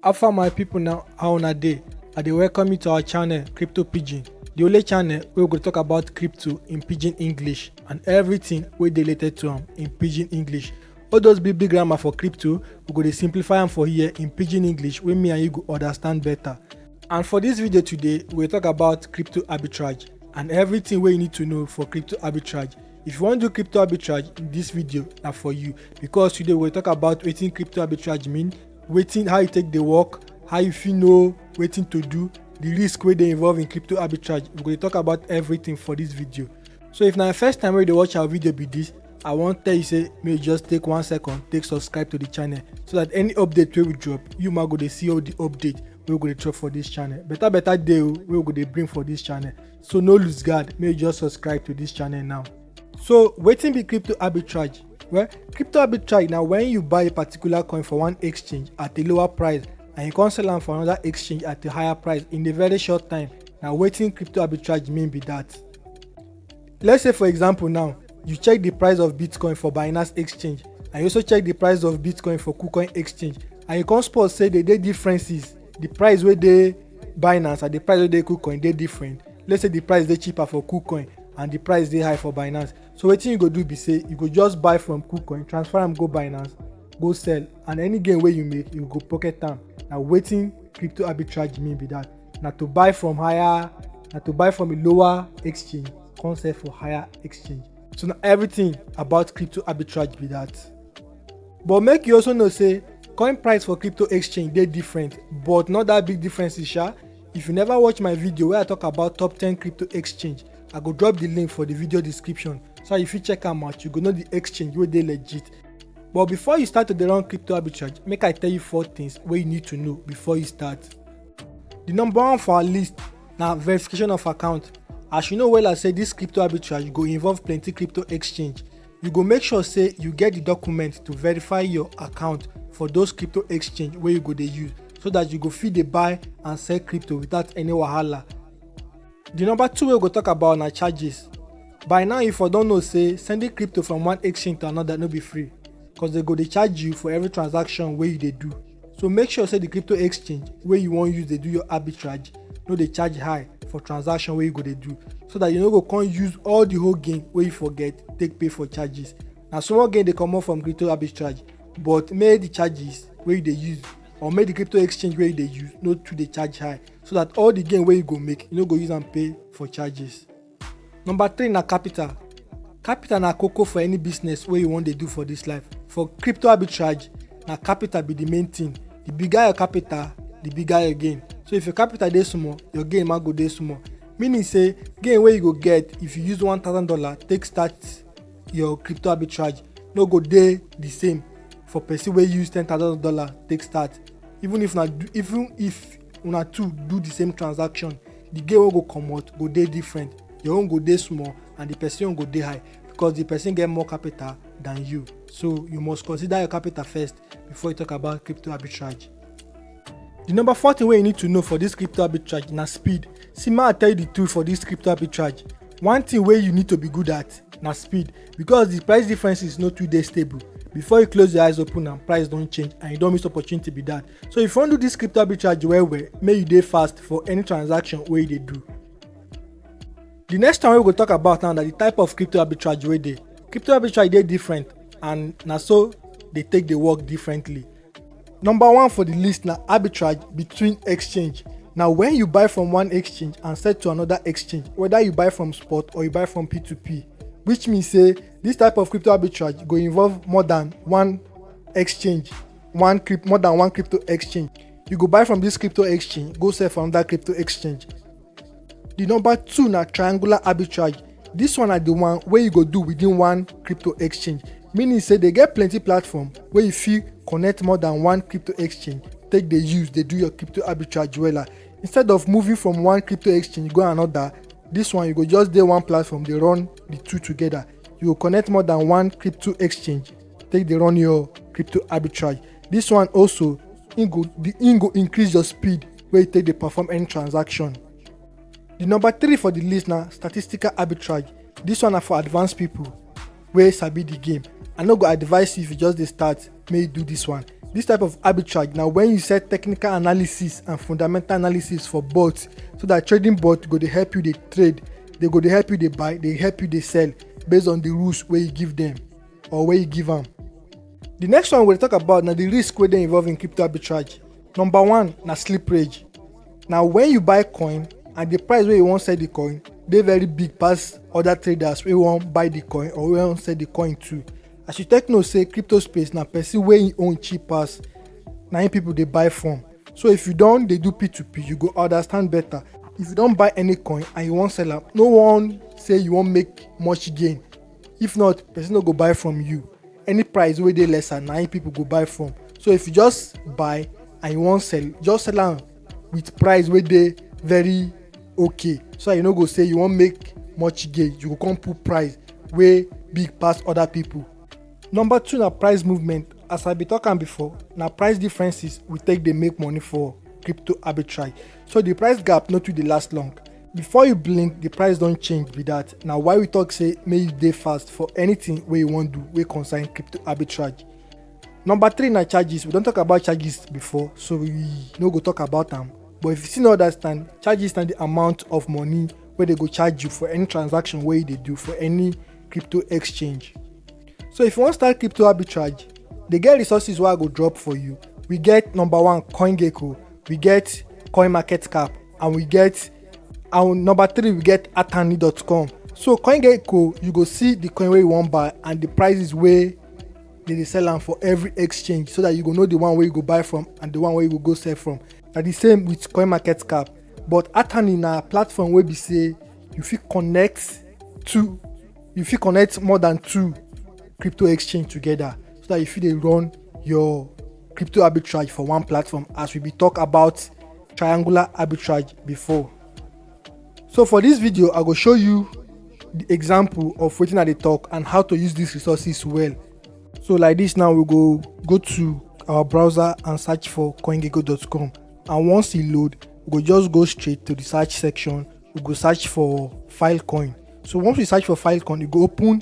Alpha my people now how una dey? I dey welcome you to our channel Crypto Pidgin, the only channel wey we go talk about crypto in pidgin English and everything wey dey related to am in pidgin English. All those big big grammar for crypto, we go dey simplify am for here in pidgin English wey me and you go understand better. And for this video today, we go talk about crypto arbitrage and everything wey you need to know for crypto arbitrage. if you wan do crypto arbitrage this video na for you because today we talk about wetin crypto arbitrage mean wetin how e take dey work how you fit know wetin to do the risk wey dey involve in crypto arbitrage we go dey talk about everything for this video so if na your first time wey you dey watch our video be this i wan tell you say make you just take one second take subscribe to the channel so that any update wey we drop you ma go dey see all the update wey we go dey drop for this channel better better dey o wey we go dey bring for this channel so no lose guard make you just subscribe to this channel now so wetin be crypto arbitrage well crypto arbitrage na when you buy a particular coin for one exchange at a lower price and you come sell am for another exchange at a higher price in a very short time na wetin crypto arbitrage mean be that let's say for example now you check the price of bitcoin for binance exchange and you also check the price of bitcoin for kucoin exchange and you come spot say they dey differences the price wey dey binance and the price wey dey kucoin dey different let's say the price dey cheaper for kucoin and the price dey high for binance so wetin you go do be say you go just buy from kucoin transfer am go binance go sell and any gain wey you make you go pocket am na wetin crypto arbitrage mean be that na to buy from higher na to buy from a lower exchange come sell for higher exchange so na everything about crypto arbitrage be that. But make you also know say coin price for crypto exchange dey different but not that big differences sha. If you never watch my video where I talk about top 10 crypto exchange, I go drop the link for the video description so you fit check am out, you go know the exchange wey dey legit. But before you start to dey run crypto arbitrage, make I tell you four things wey you need to know before you start. The number one for our list na verification of account. As you know wella say this crypto arbitrage go involve plenty crypto exchange You go make sure say you get the documents to verify your account for those crypto exchange where you go dey use so that you go fit dey buy and sell crypto without any wahala. The number two way we go talk about na charges. By now you for don know say sending crypto from one exchange to another no be free cause they go dey charge you for every transaction wey you dey do. so make sure say the crypto exchange wey you wan use dey do your arbitrage no dey charge high for transaction wey you go dey do so that you no go come use all the whole gain wey you forget take pay for charges na small gain dey comot from crypto arbitrage but make the charges wey you dey use or make the crypto exchange wey you dey use no too dey charge high so that all the gain wey you go make you no go use am pay for charges Number three na capital. Capital na koko for any business wey you wan dey do for dis life. For crypto arbitrage, na capital be the main thing. The bigger your capital, the bigger your gain. So if your capital dey small, your gain ma go dey small. Meaning say gain wey you go get if you use one thousand dollar take start your crypto arbitrage no go dey the same for person wey use ten thousand dollar take start. Even if na even if una two do the same transaction the gain wey go comot go dey different your own go dey small and the person own go dey high because the person get more capital than you so you must consider your capital first before you talk about crypto arbitrage the number four thing wey you need to know for this crypto arbitrage na speed see ma i tell you the truth for this crypto arbitrage one thing wey you need to be good at na speed because the price differences no too dey stable before you close your eyes open am price don change and you don miss opportunity be that so if you wan do this crypto arbitrage well well make you dey fast for any transaction wey you dey do the next time wey we go talk about now na the type of crypto arbitrage wey dey crypto arbitrage dey different and na so dey take dey work differently number one for the list na arbitrage between exchange na when you buy from one exchange and sell to another exchange whether you buy from spot or you buy from p2p which mean say this type of crypto arbitrage go involve more than one exchange one crypt more than one crypto exchange you go buy from this crypto exchange go sell for another crypto exchange the number two na triangular arbitrage this one na the one wey you go do within one crypto exchange meaning say they get plenty platform wey you fit connect more than one crypto exchange take dey use dey do your crypto arbitrage wella instead of moving from one crypto exchange go another this one you go just dey one platform dey run the two together you go connect more than one crypto exchange take dey run your crypto arbitrage this one also im go the im go increase your speed wey you take dey perform any transaction the number three for the list na statistical arbitrage this one na for advanced people wey sabi the game i no go advise you if you just dey start make you do this one this type of arbitrage na when you set technical analysis and fundamental analysis for bots so that trading bot go dey help you dey trade they go dey help you dey buy dey help you dey sell based on the rules wey you give them or wey you give am. The next one we dey talk about na the risk wey dey involve in crypto arbitrage. Number one na slippage. Na when you buy coin and the price wey you wan sell the coin dey very big pass other traders wey wan buy the coin or wey wan sell the coin too. As you take know say crypto space na person wey im own cheap pass na im people dey buy from. So if you don dey do P2P, you go understand better. If you don buy any coin and you wan sell am, no wan say you wan make much gain if not person no go buy from you any price wey dey lesser na im people go buy from so if you just buy and you wan sell just sell am with price wey dey very okay so that you no go say you wan make much gain you go come put price wey big pass other people. number two na price movement as i bin talk am before na price differences we take dey make money for crypto arbitrage so the price gap no too dey last long before you blink the price don change be that na why we talk say make you dey fast for anything wey you wan do wey concern crypto arbitrage number three na charges we don talk about charges before so we no go talk about am but if you still no understand charges na the amount of money wey dey go charge you for any transaction wey you dey do for any crypto exchange so if you wan start crypto arbitrage dey get resources wey i go drop for you we get number one coingecko we get coinmarketcap and we get and number three we get atani.com so coingecko you go see the coin wey you wan buy and the prices wey dey dey sell am for every exchange so that you go know the one wey you go buy from and the one wey you go go sell from na the same with coin market cap but atani na platform wey be say you fit connect two you fit connect more than two crypto exchange together so that you fit dey run your crypto arbitrage for one platform as we be talk about triangular arbitrage before so for this video i go show you the example of wetin i dey talk and how to use these resources well so like this now we go go to our browser and search for coingecko.com and once e load we go just go straight to the search section we go search for filecoin so once we search for filecoin e go open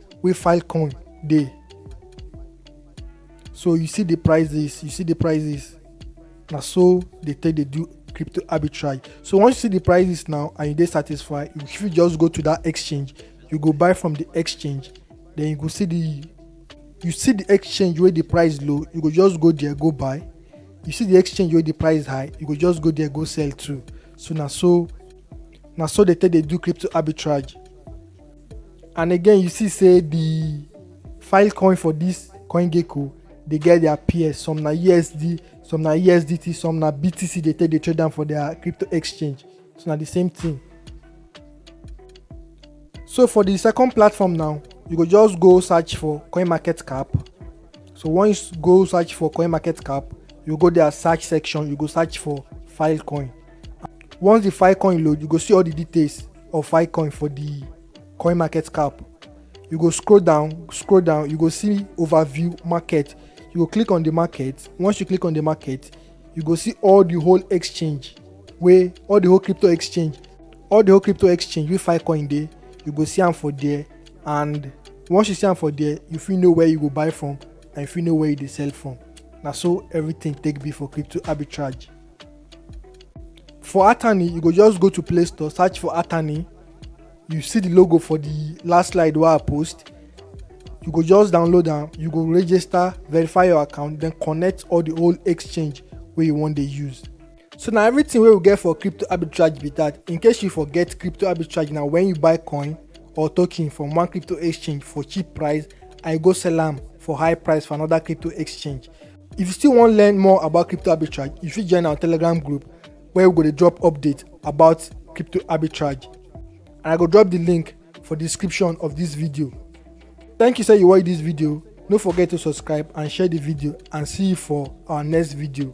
wey filecoin dey so you see the prices you see the prices na so they take dey do crypto arbitrage so once you see the prices now and you dey satisfied you fit just go to that exchange you go buy from the exchange then you go see the you see the exchange wey the price low you go just go there go buy you see the exchange wey the price high you go just go there go sell too so na so na so they take dey do crypto arbitrage and again you see say the file coin for this coin gecko they get their peers some na usd some na usdt some na btc they take the trade down for their crypto exchange so na the same thing so for the second platform now you go just go search for coin market cap so once you go search for coin market cap you go their search section you go search for filecoin once the filecoin load you go see all the details or Filecoin for the coin market cap you go scroll down scroll down you go see overview market you go click on the market once you click on the market you go see all the whole exchange wey all the whole crypto exchange all the whole crypto exchange wey filecoin dey you go see am for there and once you see am for there you fit know where you go buy from and you fit know where you dey sell from na so everything take be for crypto arbitrage for attorney you go just go to play store search for attorney you see the logo for the last slide wey i post you go just download am you go register verify your account then connect all the old exchange wey you wan dey use so na everything wey we get for crypto arbitrage be that in case you forget crypto arbitrage na when you buy coin or token from one crypto exchange for cheap price and you go sell am for high price for another crypto exchange If you still wan learn more about crypto arbitrage, you fit join our Telegram group where we go dey drop update about crypto arbitrage. And I go drop the link for the description of this video. Thank you say you watch this video. No forget to subscribe and share the video and see you for our next video.